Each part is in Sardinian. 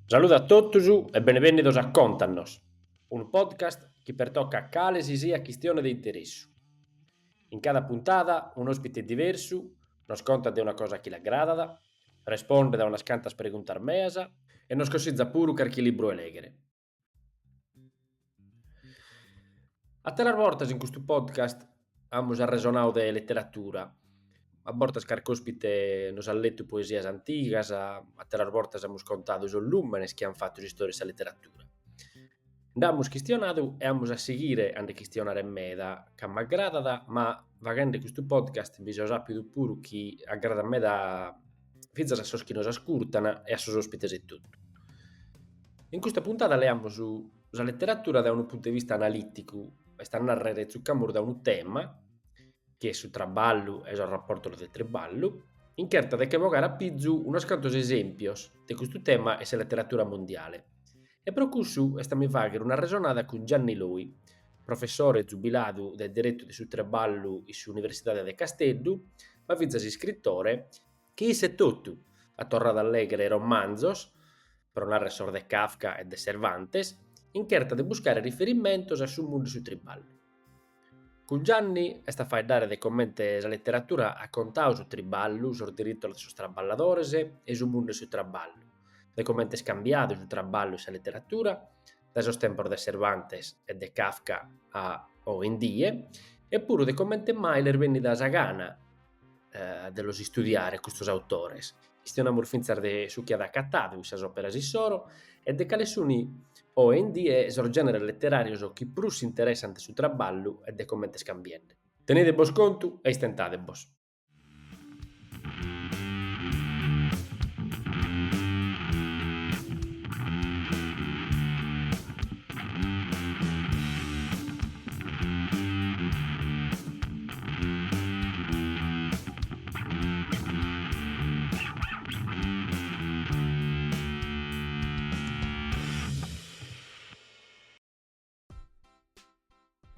Saludu a totus e benevènnidos a Contanos, unu podcast chi pertocat cale si siat chistione de interessu. In cada puntada un'òspite diversu nos contat de una cosa chi l'agradat, respondet a unas cantas preguntas meas e nos consitzat puru carchi libru 'e lèghere. Àteras bortas in custu podcast amus arresonadu de leteratura, a bortas carchi ospite nos ant letu poesias antigas, àteras bortas amus contadu sos lùmenes chi ant fatu s'istòria de sa leteratura. Nd'amus chistionadu e amus a sighire a nde chistionare meda, ca m'agradat ma faghende custu podcast mi so sàpidu puru chi agradat meda fintzas a sos chi nos ascurtan e a sos òspites etotu. In custa puntada leamus sa letteratura dae unu puntu de vista analìticu, est a nàrrere tzucamus dae unu tema, chi est su traballu e sos raportos de triballu, in cherta de che bogare a pizu unos cantos esèmpios de custu tema in sa letteratura mundiale. E pro cussu est a mi fàghere un'arresonada cun Gianni Loi, professore zubiladu de diritu de su triballu in s'Universidade de Casteddu, ma fintzas iscritore, chi isse etotu at torradu a lèghere romanzos, pro narrer sos de Kafka e de Cervantes, in cherta de buscare riferimentos a su mundu de su triballu. Cun Gianni est a faeddare de comente sa leteratura at contadu su triballu, sos diritos de sos traballadores e su mundu 'e su traballu, de comente est cambiadu su traballu in sa leteratura dae sos tempos de Cervantes e de Kafka a oe in die e puru de comente mai l'est bènnida sa gana de los istudiare custos autores. Chistionamus fintzas de su chi at acatadu in sas òperas issoro e de cale sunt oe in die sos gèneres leteràrios chi prus interessant su traballu e de comente est cambiende. Tenede bos contu e istentade bos.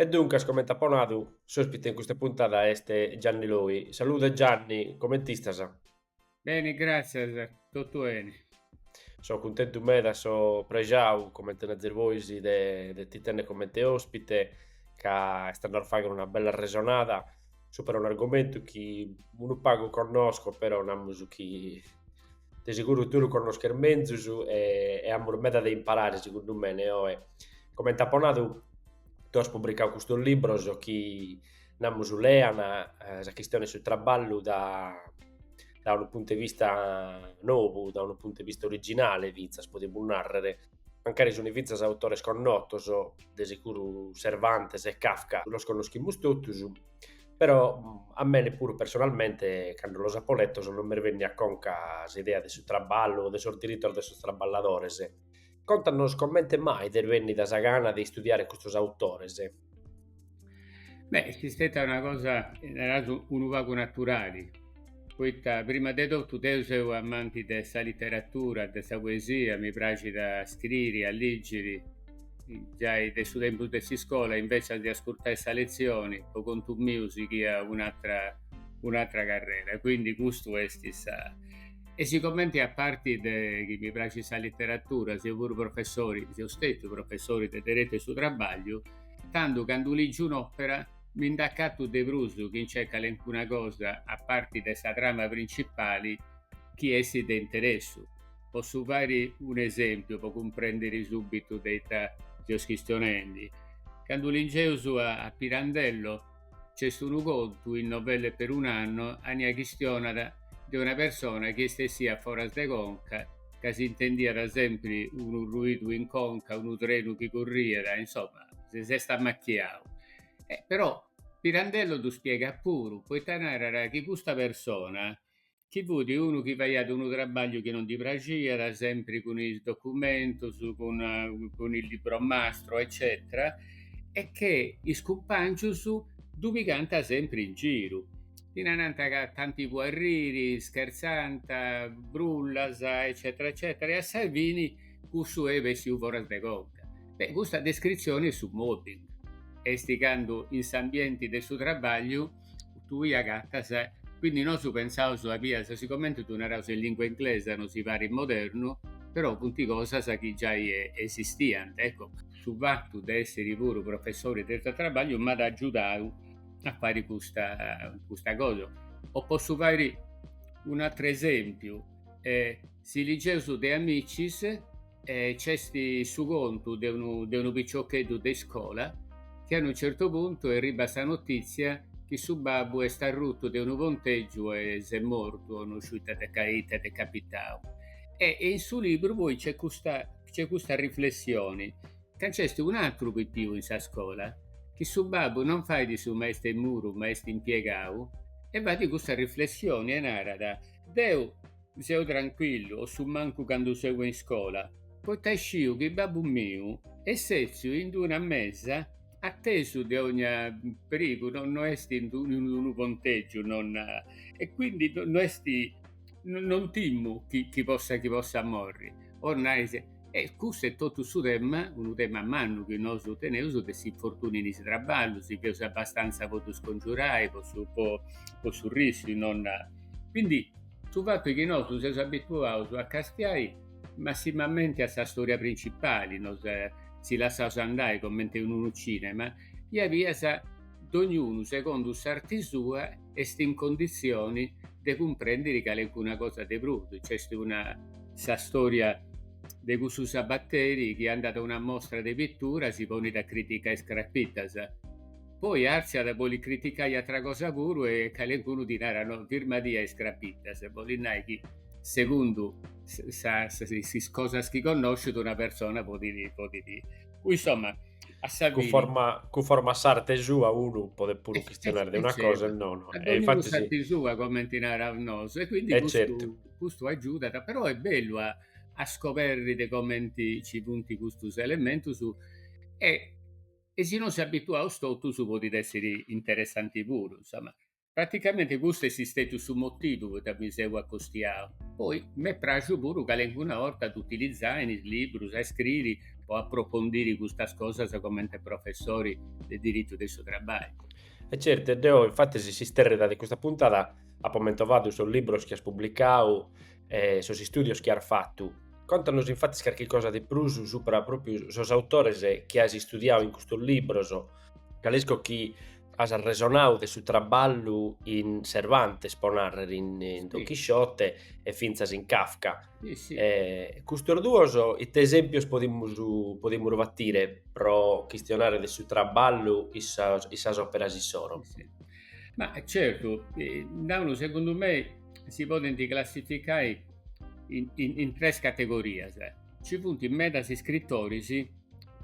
E duncas, comente apo nadu, s'òspite in custa puntada est Gianni Loi. Salude Gianni, coment'istas? Beni, gràtzias, totu beni. So cuntentu meda, so prexau, comente nazis bois, de, de ti tènnere comente òspite, ca est a nos fàghere una bella resonada subra un'argomentu chi unu pagu connosco, però namus su chi de seguru tue lu connosches menzus e, e amus meda de imparare, segundu mene, oe. Comente apo nadu, tue as publicau custos libros chi namus lean, sa chistione 'e su traballu da da unu puntu 'e vista novu, da unu puntu 'e vista originale fintzas podimus nàrrere, mancari sunt fintzas autores connotos, de sicuru Cervantes e Kafka los connoschimus totus, però a mene puru personalmente cando los apo letos non m'est bènnia a conca s'idea de su traballu o de sos diritos de sos traballadores Contanos comente mai t'est bènnida sa gana de istudiare custos autores. Beh, est stèta una cosa, naraus, unu pagu naturali, poita prima de totu deo seu amanti de sa literatura, de sa poesia, mi praxit a scriri, a lìgiri, giai de su tempus de s'iscola, inveci de ascurtai sa letzioni, po contu miu sighia un'atra un'atra carrera e quindi custu est sa E sigomenti a parti chi mi praxit sa literatura seu puru professori, seu stetiu professori de deretu 'e su trabagliu, tandu candu ligiu un'opera mi nd'acatu de prus chi nc'est calencuna cosa a parti de sa trama principali chi essit de interessu. Possu fai un'esempiu po cumprendiri subitu de ita seus chistionendi. Candu ligeus a Pirandello Nc'est unu contu in Novelle per un anno ania chistionat de una persona chi est essia foras de conca, ca si intendiat sempri unu ruidu in conca, unu trenu chi curriat, insoma, si s'est ammachiau. E però Pirandello ddu spiegat puru, poita narat chi custa persona chi fut unu chi faiat unu trabagliu chi non ddi praxiat, sempri cun is documentos, cun cun il libro mastro eccetera, e che is cumpàngius ddu pigànt sempri in giru, ddi narànt ca tanti po arriri, scherzànt, brullas eccetera eccetera e a sa fini cussu est bessiu foras de conca. Beh, custa descritzioni est su mobbing, est candu in s'ambienti de su trabagliu tui agattas, quindi nosu pensaus a bias sigomente ddu naraus in lingua inglesa nosi parit modernu, però funt cosas chi giai esistiant, ecco. Su fatu de essiri puru professori de deretu 'e trabagliu m'at agiudau a fai custa cosa, o possu fai un'atru esempiu, si ligeus De Amicis Nc'est su contu de unu, de unu piciocheddu de iscola chi a unu certu puntu erribat sa notìtzia chi su babbu est arrutu de unu pontègiu e s'est mortu o no sciu ita at, ita at capitau. E in su libru poi nc'est custa, nc'est custa riflessioni, ca nc'est un'atru pipiu in sa scola, chi su babbu non fait su maestru 'e muru ma est impiegau e fait custa riflessioni e narat, deu Seu tranquillu o su mancu candu seu in iscola. Poita sciu chi babbu miu est sètziu in d-una mesa atesu de ogna perigu, no no est in d-unu pontègiu, no na, e quindi no est, non timu chi chi possa chi possa morri. O nais, e custu est totu su tema, unu tema mannu chi nosu teneus de s'infortuniu in is trabballus, si feus abastanza po ddu scongiurai, po su po po su rischiu, no na. Quindi Su fatu est chi nosu seus abituaus a castiai massimamenti a sa storia principali, nos si lassaus andai comenti in unu cinema, bia bia dognunu segundu s'arti sua est in conditzioni de cumprendiri calencuna cosa de prus, nc'est una, sa storia de cussu sabateri chi andat a una mostra de pittura si ponit a criticai is crapittas. poi artziat boli criticai atra cosa puru e calencunu ddi narat no firmadì a is crapittas bolit nai chi segundu is cosas chi connoscit una persona podit podit insomma a sa fini conforma cunforma a s'arte sua unu podet puru chistionare de una cosa e non e dogni unu s'arte sua comenti naraus nosu e quindi custu custu agiudat però est bellu a a scoberri de comenti ci funt custus elementus e e si nos si abituaus totus podit èssiri interessanti puru, insoma, praticamenti custu est istètiu su motivu poita mi seu acostiau. Poi m'est praxiu puru calencuna 'orta de utilizai in is liburus a iscriri po aprofondiri custas cosas comenti professori de diritu de su trabballu. E certu, deu infatis s'istèrrida de custa puntada apu fentomadu sos liburus chi as publicau e sos istùdios chi as fatu, contanos infatis carchi cosa de prus supra pròpiu sos autores chi as istudiadu in custos libros, ca isco chi as arresonadu de su traballu in Cervantes, pro nàrrere, in Don Chisciote e fintzas in Kafka. Custos duos ite esèmpios podimus podimus batire pro chistionare de su traballu in sas òperas issoro? Ma certu, tandu segundu mei si podent classificai in in in tres categorias. Ci funt medas iscritoris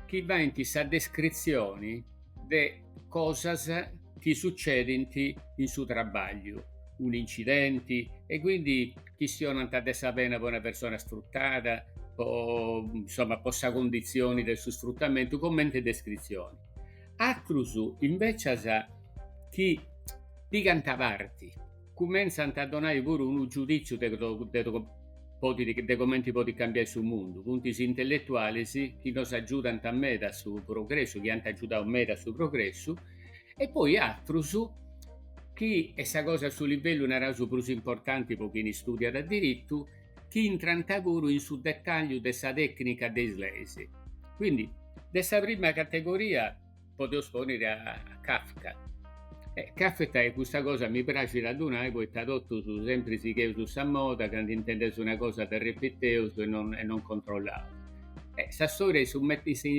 chi faint sa descritzioni de cosas chi sucedint in su trabagliu, un'incidenti e quindi chistionant de sa pena po una persona sfruttada, po insoma po sa cunditzioni de su sfrutamentu comente descritzioni. Atrus invecias chi pigant parti cumentzant a donai puru giudìtziu de de comenti podit cambiai su mundu, funt is intelletualis chi nos agiudant meda a su progressu, chi ant agiudau meda a su progressu e poi atrus chi est sa cosa a su livellu, naraus, prus importanti po chini studiat diritu, chi intrant puru in su detagliu de sa tecnica de is leis. Quindi de sa prima categoria podeus pònniri a Kafka. E Kafka e custa cosa mi praxit a ddu nai poita totus sempri sigheus sa moda candu intendeus una cosa dda repiteus e non e non controllaus. E sa storia is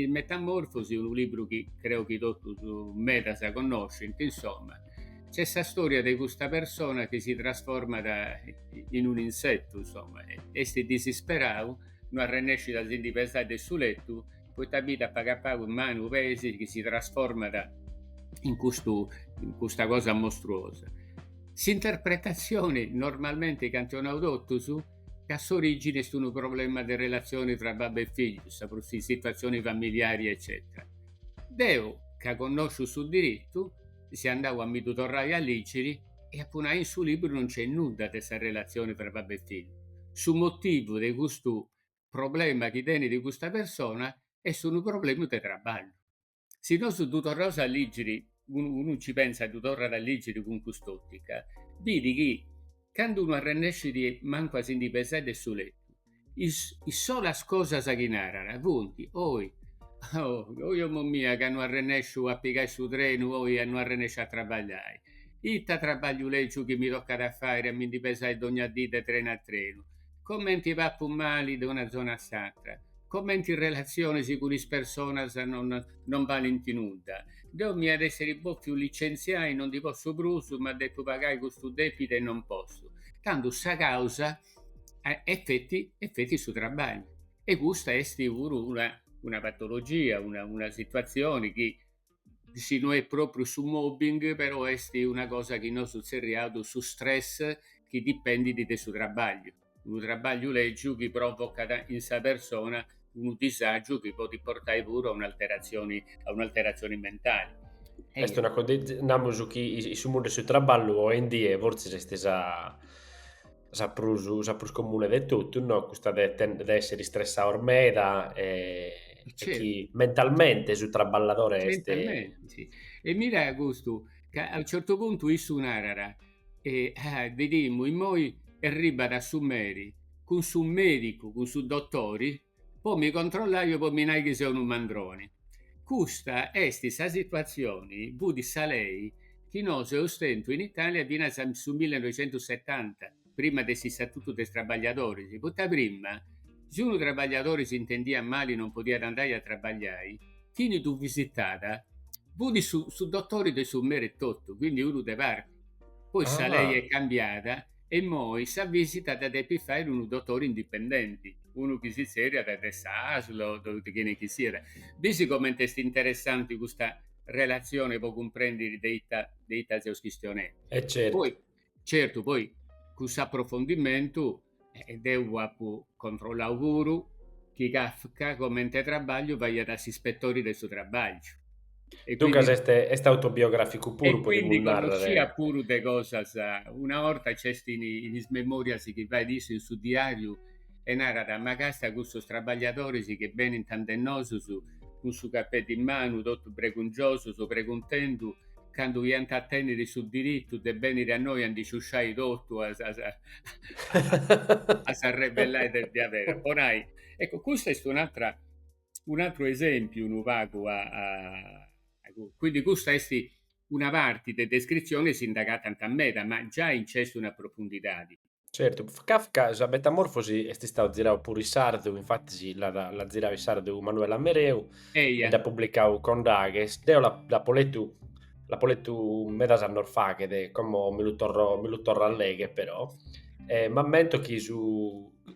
Metamorfosi unu libru chi creu chi totus medas connoscint, insoma, nc'est sa storia de custa persona chi si trasformat in un'insetu, insoma, est disisperau, no arrennescit a si ndi pesai de su letu poita bit a pagu a pagu is manus, peis chi si trasformat in custu in custa cosa mostruosa. S'interpretatzioni normalmenti chi ant donau totus est ca s'origini est unu problema de relatzioni tra babbu e figliu, sa prus situatzioni familiari eccetera. Deu ca connosciu su diritu seu andau a mi ddu torrai a liggiri e apu nai in su liburu non nc'est nudda de sa relatzioni tra babbu e figliu. Su motivu de custu problema chi tenit custa persona est unu problema de traballu. Si nosu ddu torraus a lìgiri, unu unu nci pensat ddu torrat a lìgiri cun cust'òtica, bit chi candu no arrennescit mancu a si ndi pesai de su letu, is is solas cosas chi narat funt, oi oi mama mia ca no arrennesciu a pigai su trenu, oi ca no arrennesciu a trabagliai, ita trabagliu lègiu chi mi tocat a fai a mi ndi pesai dogna dì de trenu a trenu, comenti papu mali de una zona a s'atra, comenti is relatzionis cun is personas non non balint nudda. Deu m'iat essiri bòfiu licentziai, non ndi potzu prus, ma depu pagai custu dèpidu e non potzu. Tandu sa càusa est feti est feti su trabagliu e custa est puru una una patologia, una una situatzioni chi si no est propriu su mobbing, però est una cosa chi nosu tzerriaus su stress chi dipendit de su trabagliu, unu trabagliu lègiu chi provocat in sa persona unu disàgiu chi podit portai puru a un'alteratzioni a un'alteratzioni mentali. Est una cosa, namus chi su mundu 'e su traballu oe in die fortzis est sa sa prus, sa prus comune de totus, no? custa de, de essere stressados meda e, certo. chi mentalmente su traballadore est... Mentalmente, sì. E mira custu, ca a unu certu puntu issu narat, e, ah, bidemus, immoi arribat su meri, cun su medicu, cun su dotori, Po mi controllai o po mi nai chi seu unu mandroni. Custa est sa situatzioni, fut sa lei chi nosu eus tentu in Italia finas a su millenoixentusetanta, prima de s'Istatutu de is trabagliadoris, poita prima, si unu trabagliadori s'intendiat mali non podiat andai a trabagliai, chini ddu visitàt fut su su dotori de su meri etotu, quindi unu de parti. Poi sa lei est cambiada e immoi sa vìsita dda depit fai unu dotore indipendenti, unu chi si tzerriat de s'ASL o de chene chi siat. Bisi comente est interessanti custa relatzione po cumprèndiri de ita de ita seus chistionendi. E certu. Poi, certu, poi cun s'aprofondimentu deu apu controllau puru chi Kafka comente trabagliu faiat s'ispetori de su trabagliu. E Duncas quindi... est, est autobiograficu puru, podimus narrare. E quindi connosciat puru de cosas, una orta c'est in, in is memorias chi fait issu in su diariu e narat, ma càstia custos trabagliadoris chi benint ande nosus cun su capeddu in manu, totu bregungiosus, preguntendu candu iant a tenniri su diritu de benniri a innoi a ndi sciusciai totu, a, a, a, a s'arrebellai de, de aberu. Po nai, eccu, custa est un'atra un'atru esèmpiu unu pagu a Quindi custa est una parti de descritzione, si nd'agatant meda, ma giai nc'est una profundidadi. Certu, Kafka sa metamorfosi est istadu ziradu puru in sardu, infatis l'at l'at ziradu in sardu Manuela Mereu e dd'at publicau Condaghes. Deo la l'apo letu l'apo letu medas annos faghet, como mi lu torro mi lu torro a legher però, e m'ammento chi su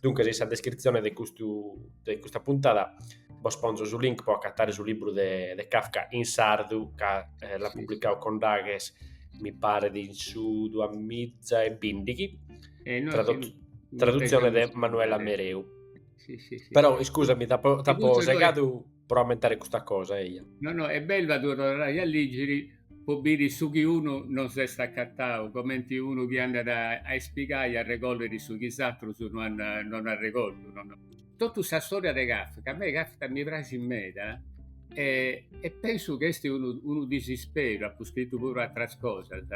Duncas in sa descritzione de, custu, de custa puntada bos ponzo su link po acatare su libru de, de Kafka in sardu, ca eh, l'at publicau Condaghes, mi paret, in su 2015, eh, no, tradot, tradutzione de Manuela Mereu. Sì, sì, sì. Però, scusami, t'apo, t'apo segadu... pro ammentare custa cosa, eja. No, no, est bellu a ddu torrai a lìgiri pro biri su chi unu non s'est acatau, comenti unu chi andat a ispigai a regòlliri su chi is atrus no an no an regoltu, no, no. Totu sa storia de Kafka, a mei Kafka mi praxit meda e e pensu chi est unu unu disisperu, apu scritu puru atras cosas,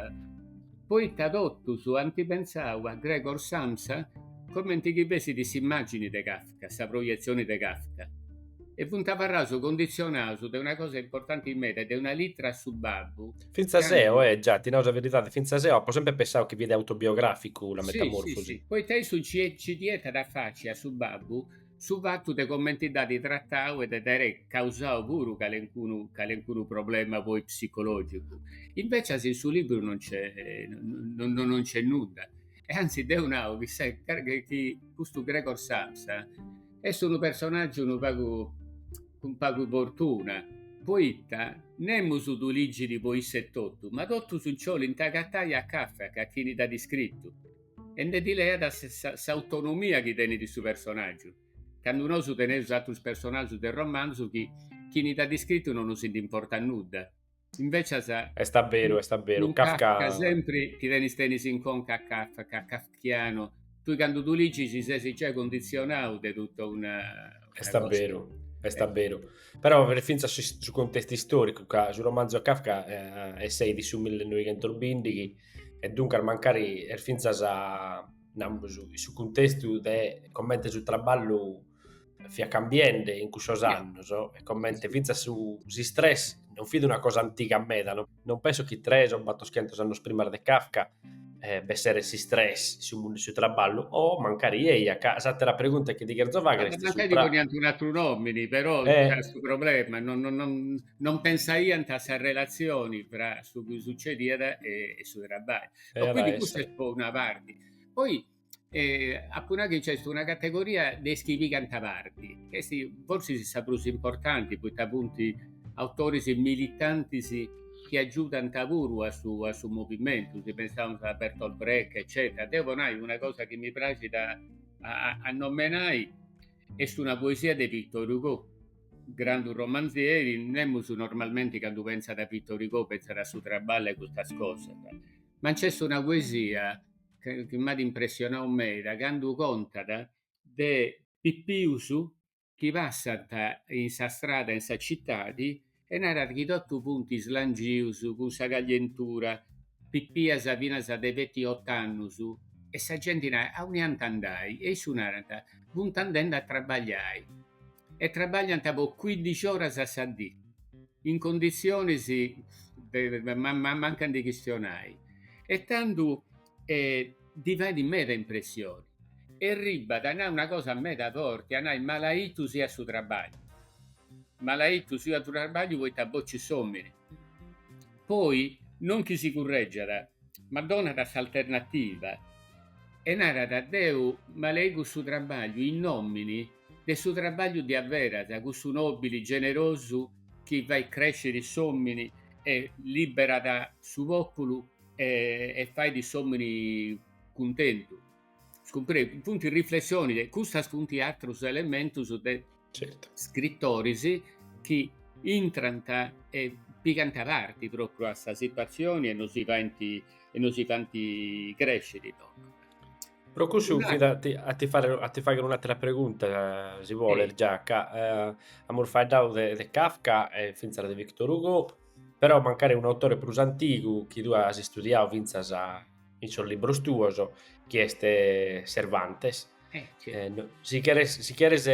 poita totus ant pentzau a Gregor Samsa comenti chi fessit s'immàgini de Kafka. Kafka, sa proietzione de Kafka, e funt abarraus conditzionaus de una cosa importanti meda, de una litra a su babbu. Fintzas eo, e già, ti nau sa veridadi, fintzas eo apu sempri pensau chi fiat autobiograficu la metamorfosi. Sì, sì, poita issu nci nci getat a faci a su babbu su fatu de comenti dd'at tratau e de dd'aere causau puru calencunu calencunu problema poi psicologicu. Invecias in su libru non nc'est, no no no nc'est nudda. e anzi deu nau chi, sa, chi custu Gregor Samsa est unu personàgiu unu pagu cun pagu fortuna, poita nemus ddu ligit po issa etotu, ma totus nci 'olint agatai a Kafka chini dd'at iscritu e nde ddi leat sa, s'autonomia chi tenit su personàgiu, candu nosu teneus atrus personàgius de romanzu chi chini dd'at iscritu no nosi ndi importat nudda. Invecis est a beru, est a beru, Kafka... Kafka sempri ti tenis tenis in conca Kafka, kafkiano, tui candu ddu ligis ses giai conditzionau de totu una... Est a beru, est a beru. Però fintzas su contestu istoricu, ca su romanzu 'e Kafka esseit in su millenoighentusbìndighi e duncas mancari est fintzas, namus, su cuntestu de comente su traballu fiat cambiende in cussos annos e comente fintzas su s'istress non fit una cosa antiga meda, no? non penso chi tres o battoschentos annos prima de Kafka eh, b'esseret s'istress, su mundu 'e su traballu, o oh, mancari eia, ca s'àtera pregunta chi ti cherzo faghere est mancari supra... poniant un atru nòmini, però eh. c'era su problema, non, non, non, non pensaiant a sa relazioni tra su chi sucediat e, e su traballu. Era quindi custa est po una parte. Poi e apu nau chi nc'est una categoria de is chi pigant parti, chi est forsis is sa prus importanti, poita funt autoris militantis chi agiudant puru a su a su movimentu, si pensaus a Bertolt Brecht eccetera. Deu po nai una cosa chi mi praxit a a a nomenai est una poesia de Victor Hugo, grandu romanzieri, nemus normalmente candu pentzat a Victor Hugo pentzat a su traballu e a custas cosas, ma nc'est una poesia chi m'at impressionau meda candu contat de pipius chi passant in sa strada e in sa citadi e narat chi totu funt slangius cun sa caglientura, pipias finas de seti, otu annus e sa genti narat, auni ant a andai? E issu narat, funt andendi a trabagliai e trabagliant po cuindixi oras a sa dì. in conditzionis de mancu ndi chistionai e tandu ddi fait meda impressioni e arribbat a nai una cosa meda forti, a nai, malaitu siat su trabagliu, malaitu siat su trabagliu poita bocit s'omini, poi non chi si curreggiat, ma donat s'alternativa e narat, deu malaixu su trabagliu in nomini de su trabagliu de averas cussu nobili generosu chi fait cresciri s'omini e liberat su populu e e fait s'omini cuntentu. As cumprèndiu? Funt riflessionis e custas funt atrus elementus de scrittoris chi intrant e pigant parti propriu a sa situazioni e nos faint e nos faint cresciri. Pro cussu, a ti, a ti fare, a ti fagher un'atera pregunta, si podet, già ca eh, amus faeddadu de, de Kafka e fintzas de Victor Hugo, però mancari unu autore prus antigu chi tue as istudiadu fintzas in sos libros tuos, chi est Cervantes, eh, no, si cheres, si cheres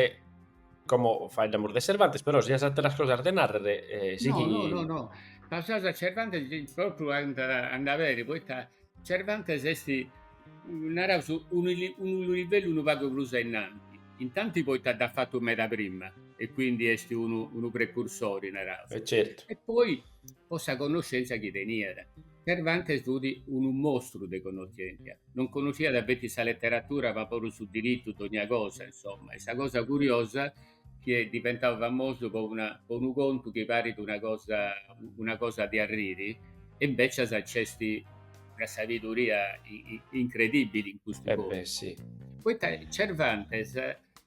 como faeddamus de Cervantes, però si as ateras cosas de narrer, eh, sighi... No, no, no, no, passaus a Cervantes, propriu andare, andat beni, poita Cervantes est, naraus, unu livellu unu pagu prus ainnanti, intanti poita dd'at fatu meda prima e quindi est unu precursori, naraus. E certu. E poi po sa connoscenza chi teniat. Cervantes fut unu mostru de connoschentia, non connoschiat feti sa leteratura ma puru su diritu, dogna cosa, insomma. E sa cosa curiosa chi est diventadu famosu po una po unu contu chi parit una cosa una cosa de arriri e invecias nc'est una sabiduria incredibili in custu eh beh, sì. Poita Cervantes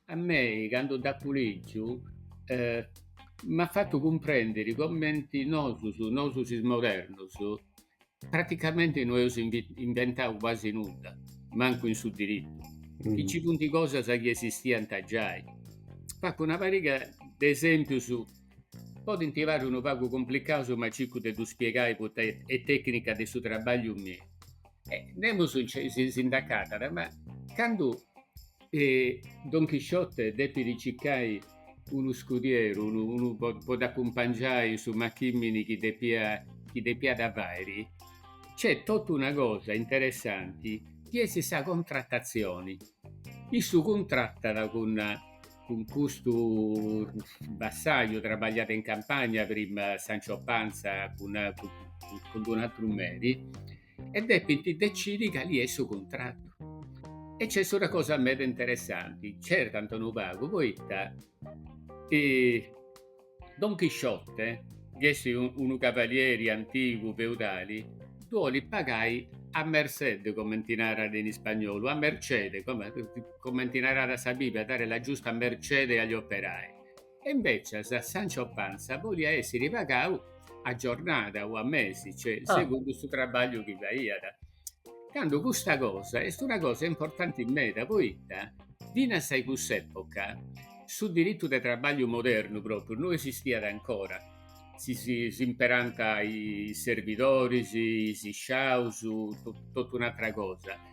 a mei candu dd'apu lìgiu eh, m'at fatu cumprèndiri cumenti nosus, nosus is modernus Praticamente no eus inventau quasi nudda, mancu in su diritu, chi nci funt cosas chi esistiant giai. Fagu una pariga de esèmpius, podint parri unu pagu cumplicaus ma circu de ddu spiegai poita est tècnica de su traballu miu. Nemus si nd'acatat ma candu E Don Chisciote depit circai unu scudieru, unu unu po po dd'acumpangiai in su machimini chi depiat chi depiat fairi. Nc'est totu una cosa interessanti chi est sa contratatzioni. Issu cuntratat cun cun custu bassaju, trabagliat in campagna prima Sancio Panza cun cun cun d'un'atru meri e depint decidi cali est su cuntratu. E nc'est una cosa meda interessanti, certant unu pagu poita Don Chisciote, chi est unu cavalieri antigu feudali, ddu 'olit pagai a merced, comenti narat in ispagnolu, a mercede, comenti narat sa Bibbia, dare la giusta mercede agli operai E invècias Sancho Panza boliat èssiri pagau a giornada o a mesi, cioè segundu su trabbagliu chi faiat, candu custa cosa est una cosa importanti meda poita finas a cuss'època su diritu de trabbagliu modernu pròpriu no esistiat ancora, si s'imperànt is servidoris, is sciaus, totu un'atra cosa.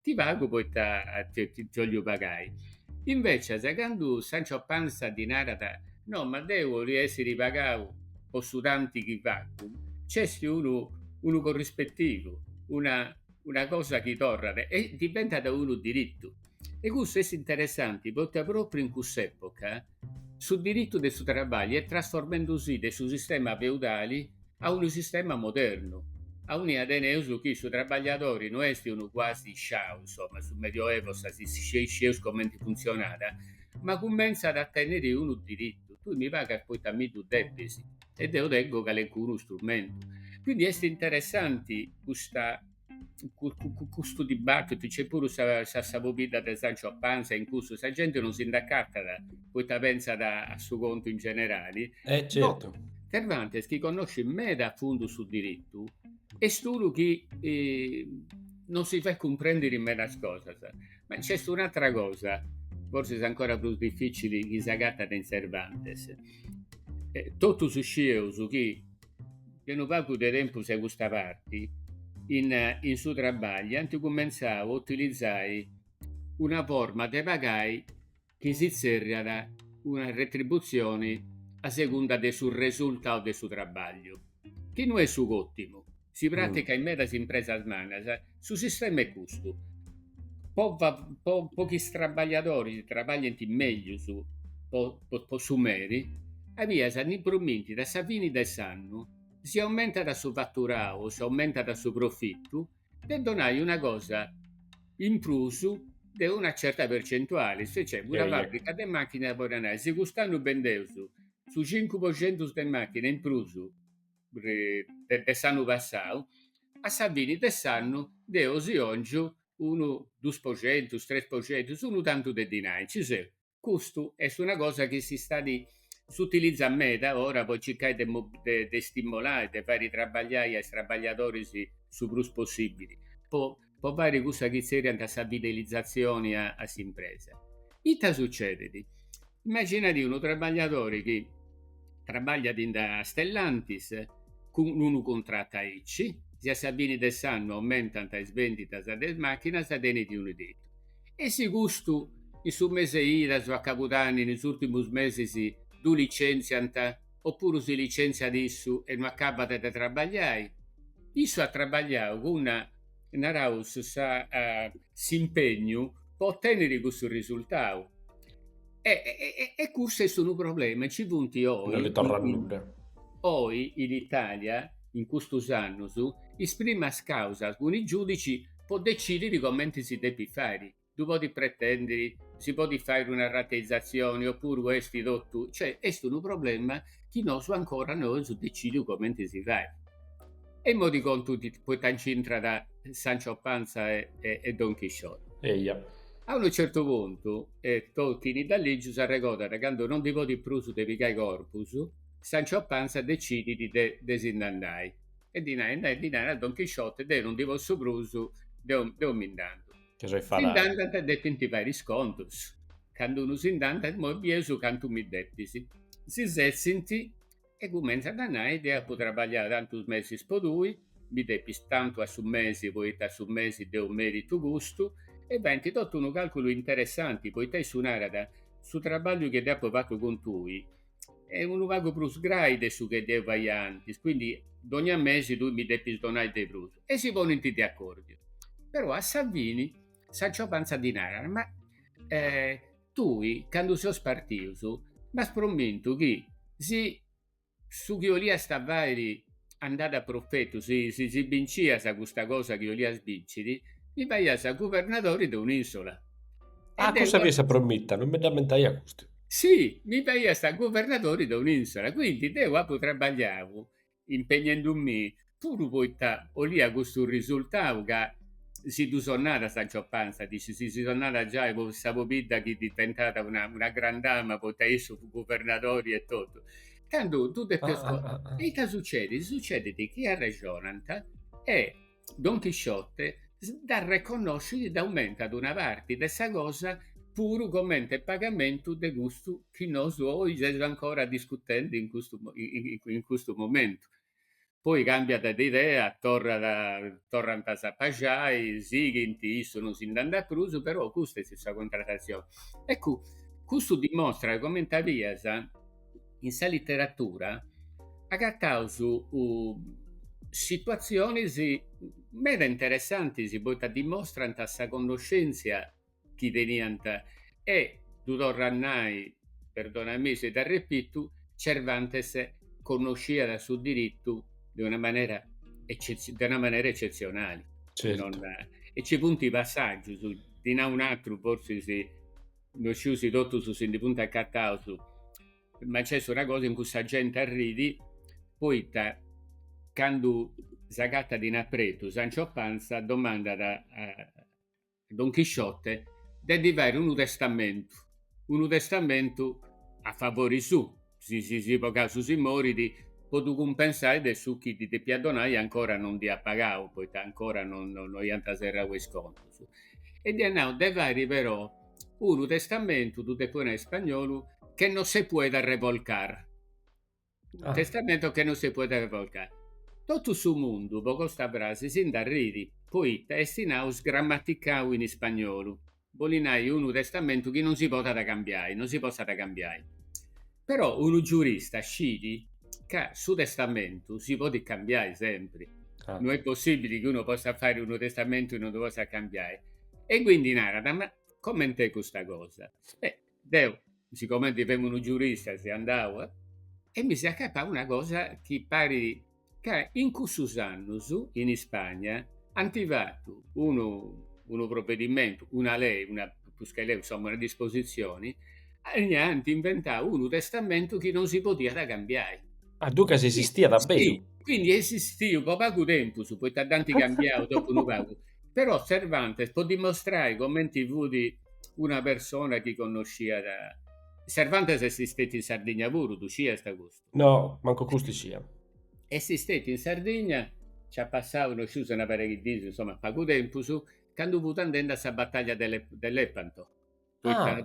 Ti pagu poita ti 'ollu pagai. Invecias, candu Sancho Panza ddi narat, No, ma deu 'ollu essiri pagau po su tanti chi facu, nc'est unu unu corrispetivu, una una cosa chi torrat e diventat unu diritu. E custu est interessanti poita propriu in cuss'epoca, Su diritu de su trabàlliu est trasformendu si de su sistema feudali a unu sistema modernu, aundi teneus chi su trabagliadori no est unu quasi sciau, insoma, su Medioevo sa si scieus comenti funtzionàt, ma cumentzat a tènniri unu diritu, tui mi pagas poita mi ddu depis e deu tengu calencunu strumentu. Quindi est interessanti custa. custu dibattitu nc'est puru sa, sa, sa pobidda de Sancho Panza in cussu, sa genti non si nd'acatat poita pentzat a su contu in generali. Eh, certu. No, Cervantes chi connoscit meda a fundu su diritu est unu chi eh, nosi fait cumprendiri medas cosas. Ma nc'est un'atra cosa, forsis ancora prus dificili chi s'agatat in Cervantes. Eh, totus scieus chi De unu pagu de tempus a custa parti in in su trabagliu ant cumentzau a utilizai una forma de pagai chi si tzerriat una retributzioni a segunda de su resultau de su trabagliu, chi no est su cotimu, si praticat in medas impresas mannas. Su sistema est custu, po po chi is trabagliadoris trabaglient mègius po po su meri, a bias ddi promintit a sa fini de s'annu, si aumentat su faturau o si aumentat su profitu, de donai una cosa in prus de una certa percentuali, si nc'est una fàbrica de màchinas podit nai, si cust'annu bendeus su cincu po centus de màchina in prus de s'annu passau, a sa fini de s'annu deo si 'ongiu unu dus po centus, tres po centus, unu tantu de dinai, nci seu. Custu est una cosa chi s'istat, s'utilizat meda ora po circai de de stimolai, de fai trabagliai a is trabagliadoris su prus possibili po po fàghere cussa chi tzerriant sa fidelizatzione a s'impresa. Ita sutzedit? Imaginadi unu trabagliadori chi trabagliat in sa Stellantis cun unu contratu aici, si a sa fini de s'annu aumentant is benditas de is màchinas tenit unu tetu e si custu in su mese 'e idas o a cabudanni in is ùrtimus mesis ddu licenziant, Oppuru si licentziat issu e no acabat de trabagliai. Issu at trabagliau cun, naraus, sa s'impegnu po otènniri cussu risultau. E e custu est unu problema. Nci funt oi, oi in Itàlia, in custus annus, is primas càusas cun is giùdicis po decidiri comenti si depit fai. ddu podit pretèndiri, si podit fàiri una rateizatzioni opuru est totu, cioè est unu problema chi nosu ancora no eus decìdiu comenti si fait. E imoi ti contu poita nci intrat Sancho Panza e Don Chisciote. Eja. A unu certu puntu, e Tolkini dd'at lìgiu, s'arregodat candu no ndi podit prus de pigai corpus, Sancho Panza decidit de de si nd'andai e ddi nai, e ddi narat a Don Chisciote, deu no ndi possu prus, deu mi nd'andu. Si nd'andat e depint fàiri is contus. Candu unu si nd'andat, Imoi bieus cantu mi depis. Si setzint e cumentzant a nai, Deu apu trabagliau tantus mesis po tui, mi depis tantu a su mesi poita a su mesi deu meritu custu, e faint totu unu càlculu interessanti, poita issu narat, Su trabagliu chi deu apu fatu cun tui, est unu pagu prus grai de su chi deu faia antis, quindi dogna mesi tui mi depis donai de prus, e si ponint de accordiu, però a sa fini Sancho Panza ddi narat, ma tui candu seus partius m'as promintu chi si su chi 'oliast fairi andàt a profetu, si si bincias custa cosa chi 'olias binciri, mi faias guvernadori de un'isola. Ah, cussa fiat sa promitta, non mi dd'ammentaiat custu. Si, mi faias guvernadori de un'isola, quindi deu apu trabagliau impegnendumì puru poita 'olia custu risultau ca si ddu sonnat Sancho Panza, dici, si si sonnat giai po sa pobidda chi diventat una gran dama poita issu fut guvernadori e totu Cantu ddi depis ah, ah, ah, Ita sucedit? Sucedit chi arrexonant e Don Chisciote dd'arreconnoscit e dd'aumentat una parti de sa cosa puru comente pagamentu de custu chi nosu oi seus ancora discutendi in custu, in custu momentu. poi cambiat de idea, torrat, torrant a s'apaxai, sighint, issu non si nd'andat prus, però custa est sa contratatzioni. Eccu, custu dimostrat comenti a bias in sa literatura agataus situatzionis meda interessantis, poita dimostrant sa connoscèntzia chi teniat e, ddu torru a nai, perdonamì si t'arrepitu, Cervantes connosciat su diritu de una manera de una manera eccetzionali. Certu. E nci funt passàgius, ndi nau un'atru, forsis no sciu si totus si ndi funt acataus, ma nc'est una cosa in cui sa genti arrit poita candu s'agatat in apretu Sancho Panza domandat a Don Chisciote de ddi fai unu testamentu, unu testamentu a favori suu, si, si po casu si morit, po ddu cumpensai de su chi ddi depiat donai e ancora non dd'iat pagau, poita ancora non non iant serrau is contus. E dd'iat nau, de fai però unu testamentu, ddu depu nai in spagnolu, que no se pueda revolcar. Ah. Un testamento que no se pueda revolcar. Totu su mundu po custa frasi si nd'arrit, poita est, naus, sgrammaticau in ispagnolu, bolit nai unu testamentu chi non si podat cambiai, non si possat cambiai. Però unu giurista scit ca su testamentu si podit cambiai sempri. Ah. Non è possibili chi uno possa fare unu testamentu e non lo possa cambiare. E quindi narat, ma coment'è custa cosa? Beh, Deu, sigomente femu unu giurista seu andau e mi seu acatau una cosa chi parit ca in cussus annus in Ispagna ant fatu unu unu provedimentu, una lei, una prus che lei, insoma una dispositzioni, e ant inventau unu testamentu chi non si podiat cambiai. Ah, duncas esistiat a beru. Sì, quindi est esistiu po pagu tempus, poita dd'ant cambiau dopu unu pagu, Però Cervantes, po dimostrai comenti fut una persona chi connosciat, Cervantes est stetiu in Sardigna puru, ddu sciast custu? No, mancu custu iscia. Est stetiu in Sardigna, nch'at passau, no sciu si una pariga 'e diis, insoma, pagu tempus, candu fut andendi a sa bataglia de Lepanto. Ah.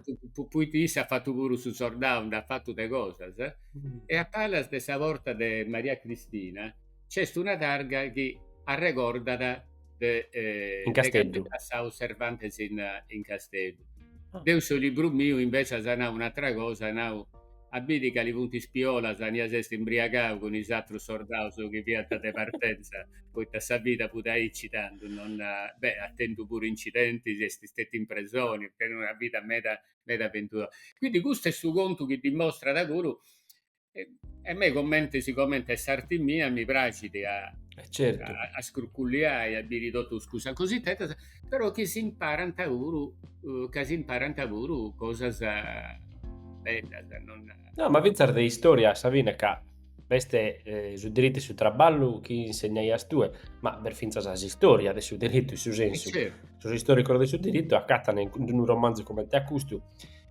Poita issu at fatu puru su sordau, nd'at fatu de cosas, eh? Mm. E a palas de sa porta de Maria Cristina nc'est una targa chi arregordat ch'est, eh, in Casteddu. Ch'est passau Cervantes in, in Casteddu. Ah. Deu in su libru miu invecias apu nau un'atra cosa, apu nau a biri cali funt is piolas, ania s'est imbriagau cun is atrus sordaus chi fiant de partenza, poita sa vida fut aici tandu, non, beh, at tentu puru incidentis, est stetiu in presoni, at tentu una vida meda meda aventurosa. Quindi custu est su contu chi dimostrat puru, e a mei comenti, sigomenti est s'arti mia mi praxit a, certu, a scruculliai, a biri totus cussas cositetas però chi si imparant puru, eh, ca si imparant puru cosas eh, bellas, non... No, ma fintzas de istoria a sa fine ca b'est eh, su diritu e su traballu chi insegnaias tue, ma b'est fintzas s'istoria de su diritu in su eh, sensu, sos istoricos de su diritu acatan in unu romanzu comente a custu,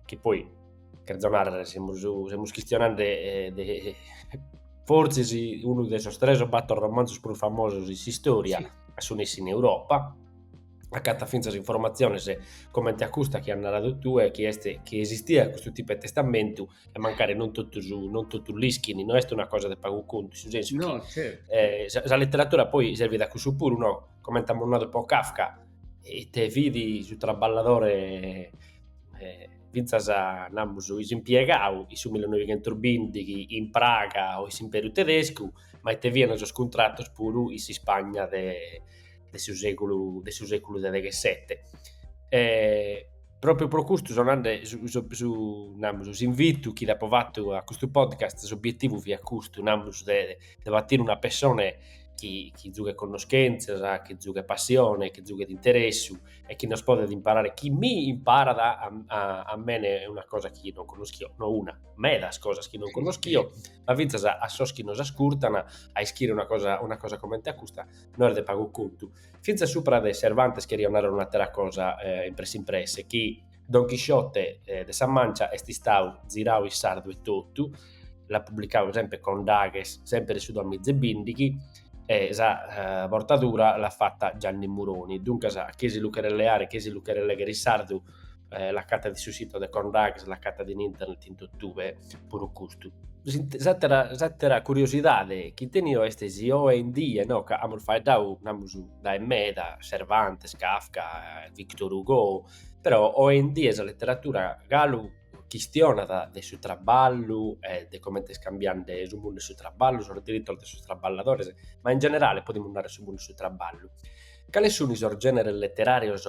chi poi Cherzo narrer, semus, semus chistionende eh, de, fortzis unu de sos tres o bator romanzos prus famosos in s'istòria, sì. a su nessi in Europa, acatat fintzas informatziones comente a custa chi as naradu tue, chi est chi esistiat custu tipu 'e testamentu e mancari non totus non totus l'ischin, no est una cosa de pagu contu, in su sensu no, chi certo. eh, sa, sa letteratura poi servit a cussu puru, no? comente amus nadu po Kafka, ite fit su traballadore eh, fintzas, namus, s'impiegau in su millinoighentos bìndighi in Praga o in s'Impèriu Tedescu, ma ite fiant sos cuntratos puru in s'Ispagna de de su sègulu de su sègulu de deghesete. Pròpriu pro custu so nande, su namus, s'invitu chi t'apo fatu a custu podcast, s'obietivu fiat custu, namus, de de batire una pessone chi chi giughet connoschèntzias, chi giughet passione, chi giughet interessu e chi nos podet imparare, chi mi imparat a, a, a mene una cosa chi non conoschio, no una, medas cosas chi non conoschio, ma fintzas a, a sos chi nos ascurtan, a ischire una cosa, una cosa comente a custa, no est de pagu contu. Fintzas supra de Cervantes cherio narrer un'attera cosa eh, in presse in presse, chi Don Chisciote eh, de sa Mancia est istau zirau in sardu e totu, l'at publicau sempre Condaghes, sempre de su duamiza e bindighi, e sa eh, bortadura l'at fata Gianni Muroni. Duncas, a chie si lu cheret leare, chie si lu cheret leghere in sardu, eh, l'acatat in su sito de Condaghes, l'acatat in internet in totue, puru custu. S'atera, s'atera curiosidade chi tenio est si oe in die, no, ca amus faeddau, namus, dae meda, Cervantes, Kafka, Victor Hugo, Però oe in die sa leteratura galu chistionat de su traballu e de comente est cambiende su mundu 'e su traballu, sos diritos de sos traballadores, ma in generale podimus narrer su mundu 'e su traballu. Cale sun sos generes letterarios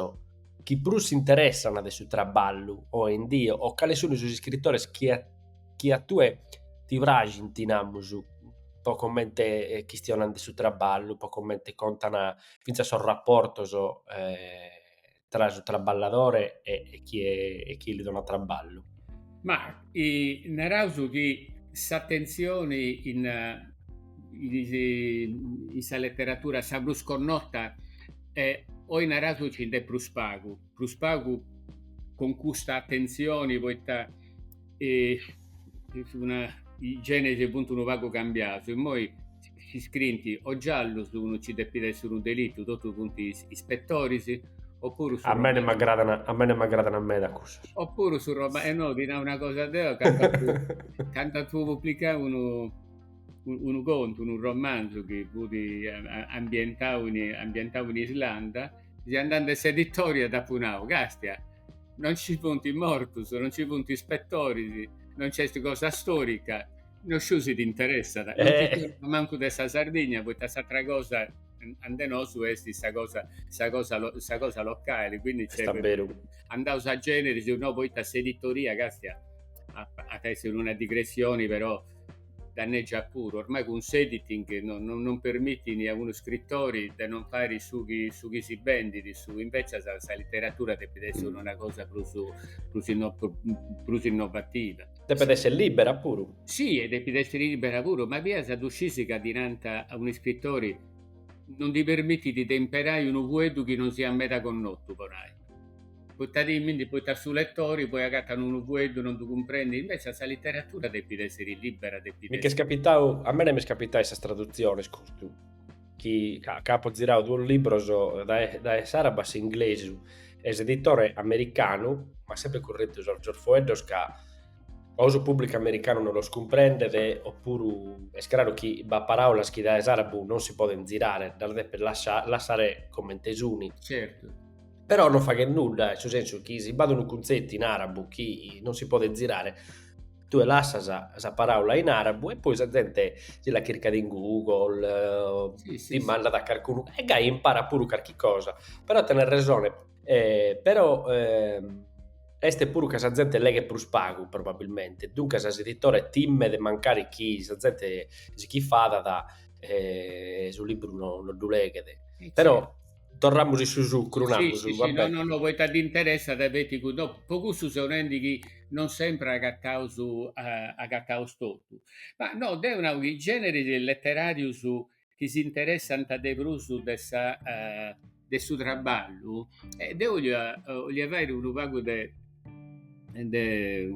chi prus s'interessan de su traballu oe in die o cale sun sos iscritores chi a chi a tue ti praxint, namus, po comente chistionan de su traballu, po comente contan finzas sos rapportos tra su traballadore e, e chie, e chie li donat traballu. Ma i, naraus chi s'atentzioni in, in, in sa leteratura sa prus connota e oi naraus nci nd'est prus pagu, prus pagu cun custa atentzioni poita e is una, is generis funt unu pagu cambiaus, immoi si scrinti o giallus, unu ci depit essi unu delitu, totus funt ispetoris, o puru su romanzu. A mene m'agradan, a mene m'agradan meda cussas. O puru su romanzu, e no, ti nau una cosa deo, candu apu, candu apu publicau unu, unu contu, unu romanzu chi fut ambientau in, ambientau in Islanda, candu andendi a s'editori dd'apu nau, castia, non ci funt mortus, non ci funt ispetoris, non nc'est cosa storica, No sciu si ti interessat, non ti eh. torno mancu de sa Sardigna, poita s'atra cosa ande nosu est sa cosa, sa cosa, sa cosa locale, quindi nc'est andaus a generis, si no poita s'editoria castia at essere una digressioni però danneggia puru, ormai cun s'editing non, non, non permitini a unu scrittori de non fare su chi, su chi si bendit, su, invece sa, sa letteratura depit essere mm. una cosa prus, prus, inno, prus innovativa. Depet esser libera puru. Si, depit esser libera puru, ma a bias ddu scisis ca ddi nant a unu iscritori, non ddi permitint de imperai unu fueddu chi non siat meda connotu, po nai. Poita timint, poita su letori poi agatat unu fueddu, non ddu cumprendit, invecias sa literatura depit esser libera, depit esser. Mi ch'est capitau, a mene m'est capitau in sas tradutzionis custu. chi apo ziradu duos libros dae s'arabu a s'inglesu e s'editore americanu m'at sempre curretu sos foeddos ca o su pubblicu americanu non los cumprendet o puru est craru chi b'at paraulas chi dae s'arabu non si podent zirare, las depet lassare comente sun. Certu. Però non faghet nudda, in su sensu chi si b'at unu cuntzetu in arabu chi non si podet zirare tue lassas sa paraula in arabu e poi sa zente si la chircat in Google, dimandat a carcunu e gai imparat puru carchi cosa, però tenes resone, però est puru ca sa zente leghet prus pagu probabilmente, duncas s'editore timet mancare chi sa zente si ch'infadat su libru no no ddu leghet, però Torramus in su sucru, namus, si, si, va si, bene. No, no, no, poita dd'interessat e feti cun, no, po cussu seu nendi chi non sempre agataus agataus totu. Ma no, deu nau chi generis letterarius chi s'interessant de prus de sa de su traballu, deu 'olia 'olia fairi unu pagu de de,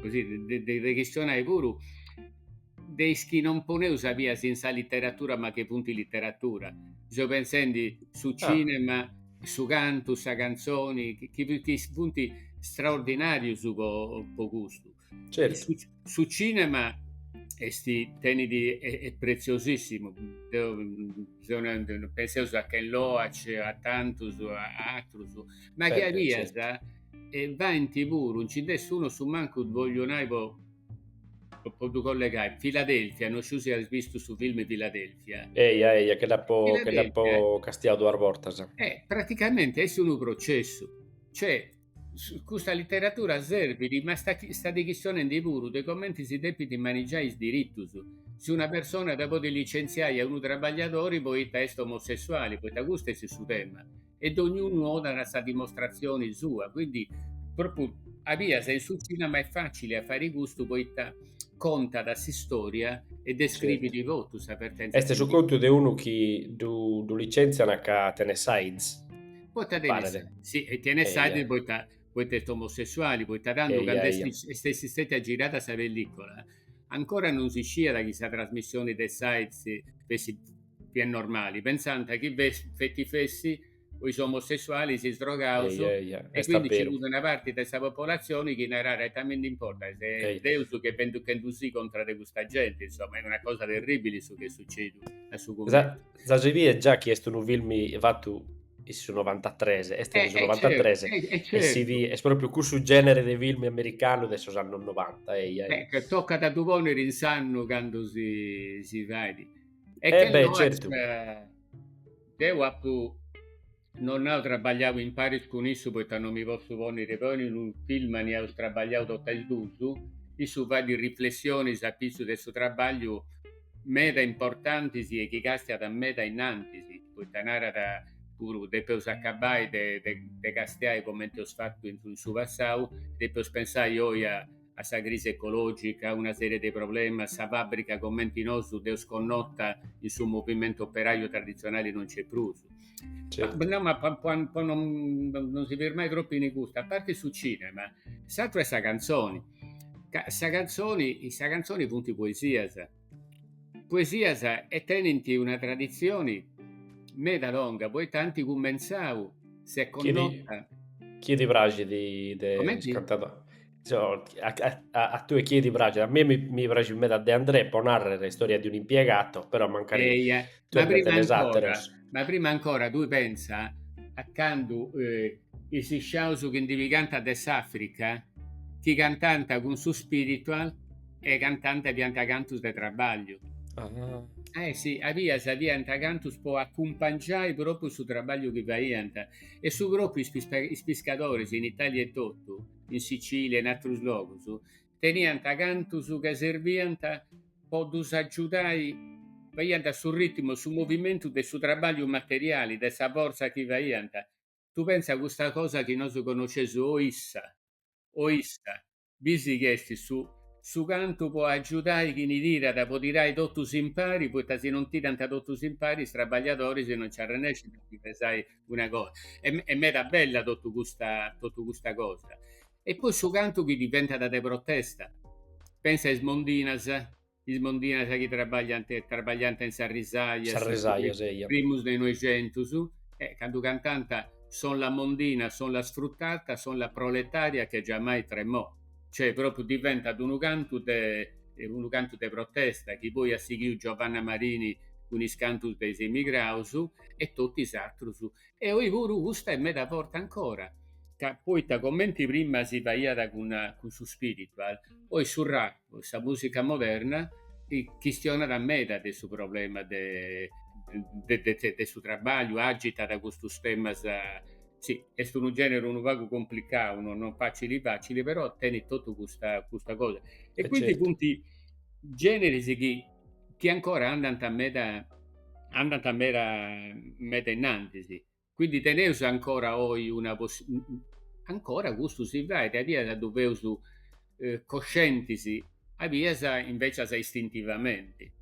così, de, de reghistionai puru de is chi no poneus a bias in sa literatura ma chi funt literatura. Seu pentzendi su ah. cinema, ah. su cantu, sa canzoni, chi, chi funt straordinarius po, po custu. Certo. Su, su cinema esti, tenit, e, e preziosissimu. Deo, mm, penseus a Ken Loach, a tantus, a atrus, ma chi a bias, certo. e faint puru, nci nd'est unu, su mancu voglio nai po, po ddu collegai, Filadelfia, no sciu si as vistu su film Filadelfia. Eia, eia, gei dd'apo, gei dd'apo castiau duas bortas. Eh, praticamenti est unu processu, cioè, Custa literatura serbit, ma istat chistionendi puru de comenti si depit manigiai is diritus, si una persona at a podi licentziai a unu trabagliadori poita est omosessuali, poita custu est su tema, e dognunu donat sa dimostratzioni sua, quindi propriu a bias in su cinema est facili a fai custu poita contat s'istoria e describit totu sa vertentza. Est su contu de unu chi ddu licentziant ca tenet s'Aids. Poita tenit Paret. s'Aids? Si, e tenit s'Aids Eia. poita, poita est omosessuali, poita tando Eia, cando est, eia. is- est essi stetia girada sa pellicola, ancora non si sciiat chi sa trasmissioni de s'Aids fessit po is normalis, pensànt chi fes- feti fessi po is omosessualis, is drogaus, Eia, eia, e est quindi nci abberu. fut una parti de sa popolazioni chi narat, ita mi ndi importat, est Eia. Deus chi est vendichendusì contra de custa genti, insoma, est una cosa terribili su chi est sucediu a su Sa, cumentzu. Za, si biet già chi est unu film fatu in su novantatres, est de eh, su eh, novantatres, e, eh, e si biet, est propriu cussu genere de film americanu de sos annos 90, eia. Beh, chi toccat a ddu ponere in s'annu cando si, si fait. E eh che beh, certu. Deu apu Non apu trabagliau in paris cun issu poita non mi possu ponniri poi in unu film anì eus trabagliau totta is duus, issu fait riflessionis a pitzu de su trabagliu meda importantis e chi castiat meda innantis, poita narat puru depeus acabai de castiai comenti eus fatu in su passau, depeus pensai oi a a sa crisi ecològica, una sèrie de problemas, sa fàbrica comente nosu dd'eus connota in su movimentu operàriu traditzionali non nc'est prus. No, ma po non si firmai tropu in custu, a parti su cinema, s'atru est sa cantzoni, ca sa cantzoni, in sa cantzoni funt poesias, poesias e tenint una traditzioni meda longa, poita ant cumentzau, s'est connota. Chini ti praxit de is cantadoris? a, a, a tue chi ti praxit, a mie mi, mi praxit meda de André, po narrer Storia di un impiegato, però mancari Eia, tue ma prima, ancora, ma prima ancora tui pensa a candu eh, is sciaus chi ndi pigant de s'Africa chi cantant cun su spiritual e cantant fiant cantus de trabagliu. Ah. Eh sì, eja, fiant cantus po acumpangiai propriu su trabagliu chi faiant e su propriu is, is piscadoris in Italia e totu in Sicilia e in atrus logus, teniant cantus ca serbiant po ddus agiudai, faiant su ritmu, su movimentu de su trabagliu materiali, de sa fortza chi faiant. Tui pensa custa cosa chi nosu connosceus o issa, o issa, bisi chi est su su cantu po agiudai chini tirat, po tirai totus impari, poita si non tirant totus impari is trabagliadoris non nci arrennescint a ndi pesai Una cosa, est est meda bella totu custa totu custa cosa. E poi su cantu chi diventat de protesta, pensa a is mondinas, is mondinas chi trabagliant trabagliant in sas risajas, Sas arrisajas, eja. primus de noixentus, e candu cantant, son la mondina, son la sfruttata, son la proletaria che giammai tremò. Cioè propriu diventat unu cantu de unu cantu de protesta chi poi at sighiu Giovanna Marini cun is cantus de is emigraus e totu is atrus. E oi puru custa est meda forti ancora. Ca poita comenti prima si faiat cun cun su spiritual, oi su rap, sa musica moderna, chistionat meda de su problema de de su trabagliu, agitat custus temas Sì, est unu generi unu pagu complicau, no non facili facili, però tenit totu custa custa cosa. E eh, quindi certo. funt generis chi chi ancora andant meda andant meda meda innantis. Quindi teneus ancora oi una possi ancora custu si fait, a bias ddu feus coscientis a bias invecias istintivamenti.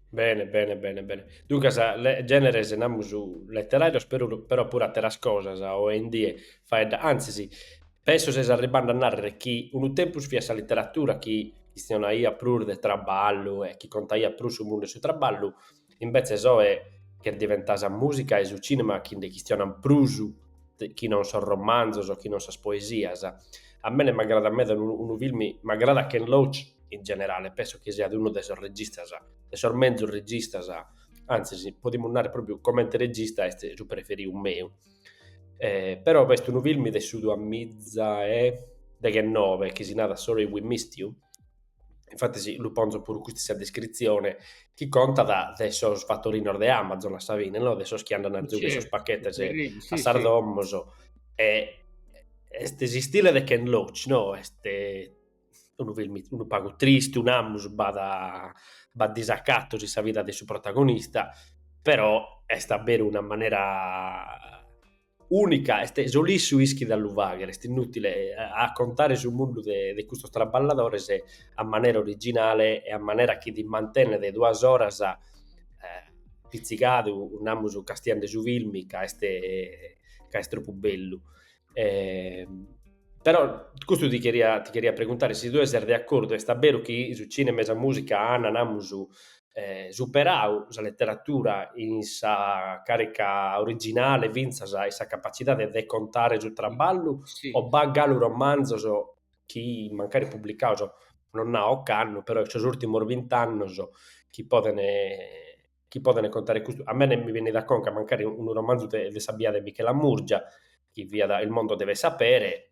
Bene, bene, bene, bene. Duncas, le, generes, namus, letterarios, però, però puru atteras cosas, oe in die, faedda, antzis, penso ses arribbende a narrer chi unu tempus fiat sa literatura chi chistionaiat prus de traballu e chi contaiat prus su mundu 'e su traballu, Imbetzes oe chi diventat sa mùsica e su cìnema chi nde chistionant prus chi non sos romanzos o chi non sas poesias. A mene m'agradat meda unu filme, m'agradat Ken Loach in generale e penso chi siat unu de sos registas, de sos menzus registas, antzis podimus narrer pròpriu comente regista est su preferidu meu. Però b'est unu filme de su duamiza e deghennoe chi si narat Sorry We Missed You infatis lu ponzo puru custu in sa descritzione, chi contat de sos fattorinos de Amazon a sa fine, no de sos chi andan a zughe sos pachetes a sas domos, e est s'istile de Ken Loach, no, est unu filmu unu pagu tristu, namus, b'at b'at disacatos in sa vida de su protagonista, però est a beru una manera Unica e solu issu ischit a lu faghere, est inutile a contare su mundu de de custos traballadores a manera originale e a manera chi ti mantenet duas oras pizzigadu, namus castiande su filmi ca est ca est tropu bellu. Però custu ti cheria ti cheria preguntare si tue ses de accordu, est abberu chi su cinema e sa musica an namus superau sa leteratura in sa càrica originale fintzas in sa capacidade de contare su traballu o b'at galu romanzos chi mancari publicaus non nau ocannu però in sos ùrtimos bint'annos chi podent chi podent contare custu, a mene mi benit a conca mancari unu romanzu de sa biada 'e Michela Murgia chi fiat il mondo deve sapere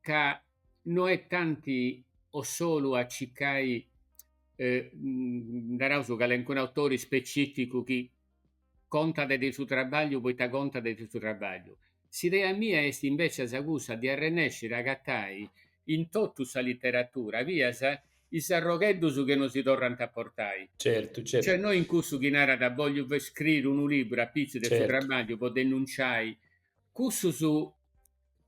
ca no est tanti o solu a circai naraus calincunu autori specificu chi contat de su trabagliu poita contat de su trabagliu, s'idea mia est invecias cussa de arrennesciri a agatai in totu sa literatura fias is arrogheddus chi nosi torrant a portai, cioè no in cussu chi narat bogliu scriri unu liburu apitzus de su trabagliu po denunciai cussus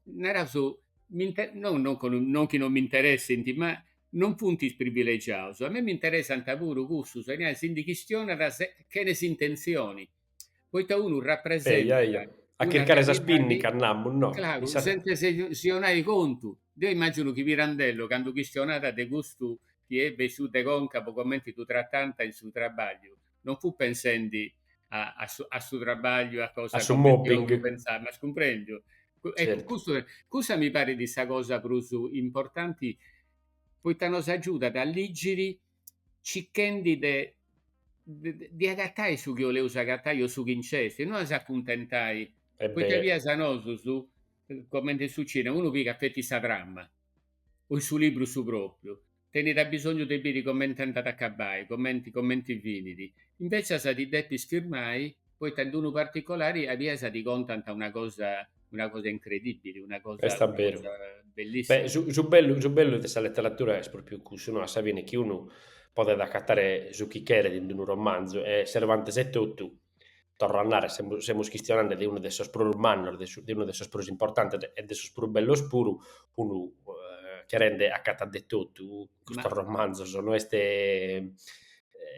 Naraus, no non chi non chi non mi interessint, ma non funt is privilegiaus, a mei mi interessant puru cussus, e si ndi chistionat chene s'intentzioni, poita unu rapresentat, a chircare sa spinnica, namus, no? Craru, sentze si 'onai contu, deu immaginu chi Pirandello candu chistionat de custu chi est bessiu de conca po comenti ddu tratant in su trabagliu, non fut pensendi a, a, su, a su trabagliu, a cosa a su mobbing, pensare, m'as cumprèndiu. Ecco, certo. custu, custa mi parit sa cosa prus importanti, poita nos agiudat a ligiri cichendi de, de, de agatai su chi oleus agatai o su chi nc'est, e non a s'acuntentai, e poita fias a nosus, comente in su cinema, unu pigat feti sa trama, o in su libru su propriu, tenit abisongiu de biri comente andat a acabbai, comente comente finit, invecias ti depis firmai poita in d'unu particolari a bias ti contant una cosa una cosa incredibili, una cosa Est abberu. bellissima. Beh, su su bellu su bellu de sa leteratura est propriu cussu, no, a sa fine chi unu podet acatare su chi cheret in d'unu romanzu e Cervantes etotu torro a narrer, semus semus chistionande de unu de sos prus mannos, de su de unu de sos prus importantes e de sos prus bellos puru, unu cherende acatat de totu custos romanzos, no est